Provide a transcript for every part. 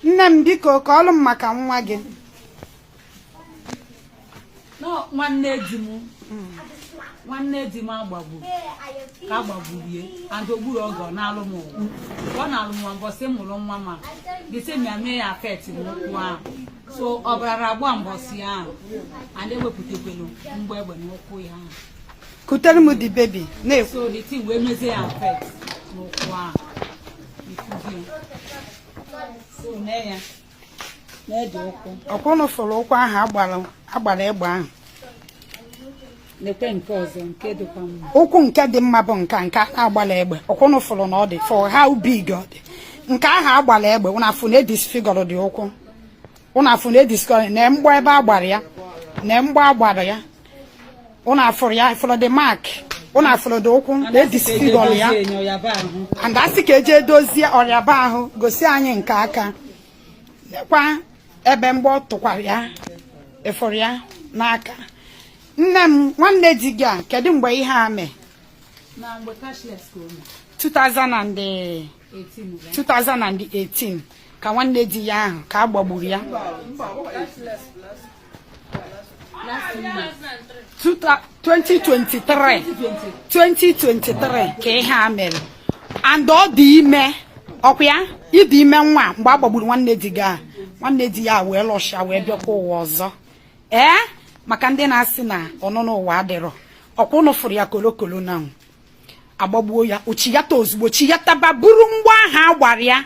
nne m biko kọọlụ m maka nwa gị nwanne di m nwanne di m agbagbu ka agbagburu ye and ogburu oge ọ nọọlụ m ụwa ọ nọọlụ m mbọsị mụrụ nwa ma the thing ya mee ya affect n'ụkwụ ahụ so ọbara agba mbọsị ahụ and ewepụtakwelu mgbọ egbe n'ụkwụ ya ahụ kutere m the baby na-ekwu so the thing wee mezie ya affect n'ụkwụ ahụ ọkwa ụnụ fụrụ ụkwụ ahụ agbara egbe ahụ ụkwụ nke dị mma bụ nka nke a na-agbarọ egbe ọkwa ụnụ fụrụ na ọ dị fụ how big ọ dị nke ahụ agbara egbe ụnụ afụ na e disfigure the ụkwụ ụnụ afụ na e disfigure na mgbọ ebe a gbara ya na mgbọ a gbara ya ụnụ afụrụ ya fụlụ the mark ụnụ afụlụ the ụkwụ na e disfigure ya and asị ka eje dozie ọrịa ebe ahụ gosi anyị nke aka nekwa ebe mgbọ tụkwara ya ịfụrụ ya n'aka nne m nwanne di gị a kedu mgbe ihe a mee 2000 and 2018 ka nwanne di ya ahụ ka a gbagburu ya 2023 2023 ka ihe a mere and ọ dị ime ọkwa ya ịdị ime nwa mgbe a gbagburu nwanne di gị nwanne di ya wee rusha wee bịakwa ụwa ọzọ ee maka ndị na-asị na ọnụnọ ụwa adịrọ ọkwa ụnụ fụrụ ya kolokolo na agbagbuo ya o chiyata ozugbo chiyataba buru mgbọ ahụ a gbara ya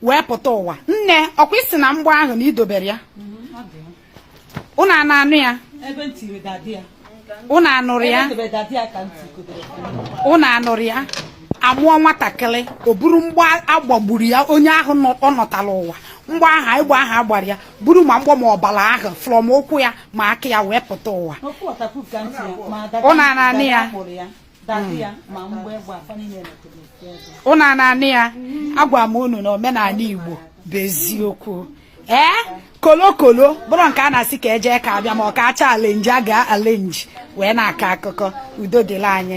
wee pụta ụwa nne ọkwa ị sị na mgbọ ahụ na i dobere ya ụnụ a na-anụ ya ụnụ anụrụ ya ụnụ anụrụ ya amụọ nwatakịrị o buru mgbọ agbagburu ya onye ahụ ọ nọtara ụwa mgbọ ahụ egbe ahụ agbara ya buru ma mgbọ ma ọbara ahụ from ụkwụ ya ma aka ya wee pụta ụwa ụnụ a na-anụ ya ụnụ a na-anụ ya agwa m unu na omenala Igbo bụ eziokwu ee kolokolo ọ bụrọ nke a na-asị ka eje ka abịa ma ọ ka acha arrange a ga-arrange wee na-akọ akụkọ udo dịlị anyị